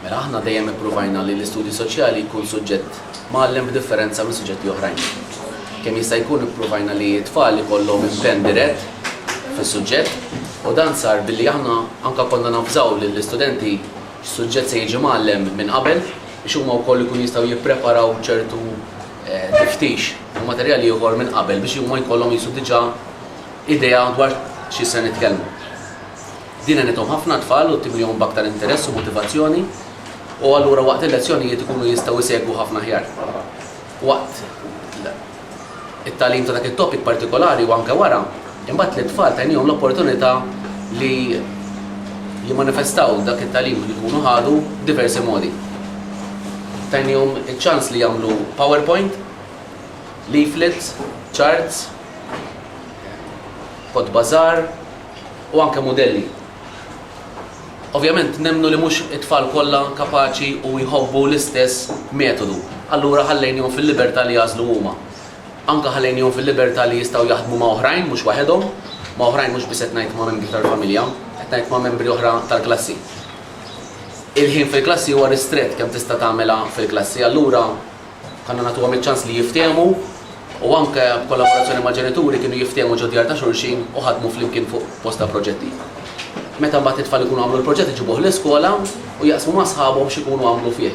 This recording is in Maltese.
Mela aħna dejjem ippruvajna li l-istudju soċjali jkun suġġett mgħallem b'differenza minn suġġetti oħrajn. Kemm jista' jkun ippruvajna li t-tfal ikollhom impenn dirett fis-suġġett u dan sar billi aħna anke konna navżaw lill-istudenti x'suġġett se jiġi mgħallem minn qabel biex huma wkoll ikunu jistgħu jippreparaw ċertu tiftix u materjal ieħor minn qabel biex huma jkollhom qisu diġà idea dwar xi se nitkellmu. Din għenithom ħafna t-tfal u ttimlihom b'aktar interess u motivazzjoni u allura waqt il-lezzjonijiet ikunu jistgħu jsegwu ħafna aħjar. Waqt it-tagħlim ta' dak it-topic partikolari u anke wara, imbagħad lit-tfal tgħinihom l-opportunità li jimmanifestaw dak it-tagħlim li jkunu ħadu b'diversi modi. Tgħinihom iċ-ċans li jagħmlu powerpoint, leaflets, charts, kotba żgħar, u anke mudelli. Ovvjament nemmnu li mhux it-tfal kollha kapaċi u jħobbu l-istess metodu, allura ħallejnihom fil-libertà li jagħżlu huma. Anke ħallejnihom fil-libertà li jistgħu jaħdmu ma' oħrajn mhux waħedhom, ma' oħrajn mhux biss qed ngħid ma' membri tal-familja, qed ngħid ma' membri oħra tal-klassi. Il-ħin fil-klassi huwa ristrett kemm tista' tagħmilha fil-klassi, allura, Kellna nagħtuhom iċ-ċans li jiftehmu u anke b'kollaborazzjoni mal-ġenituri kienu jiftehmu ġod-djar ta' xulxin u ħadmu flimkien fuq bosta proġetti. Meta mbagħad it-tfal ikunu għamlu l-proġett iġibuh l-iskola u jaqsmu ma' sħabhom x'ikunu għamlu fih.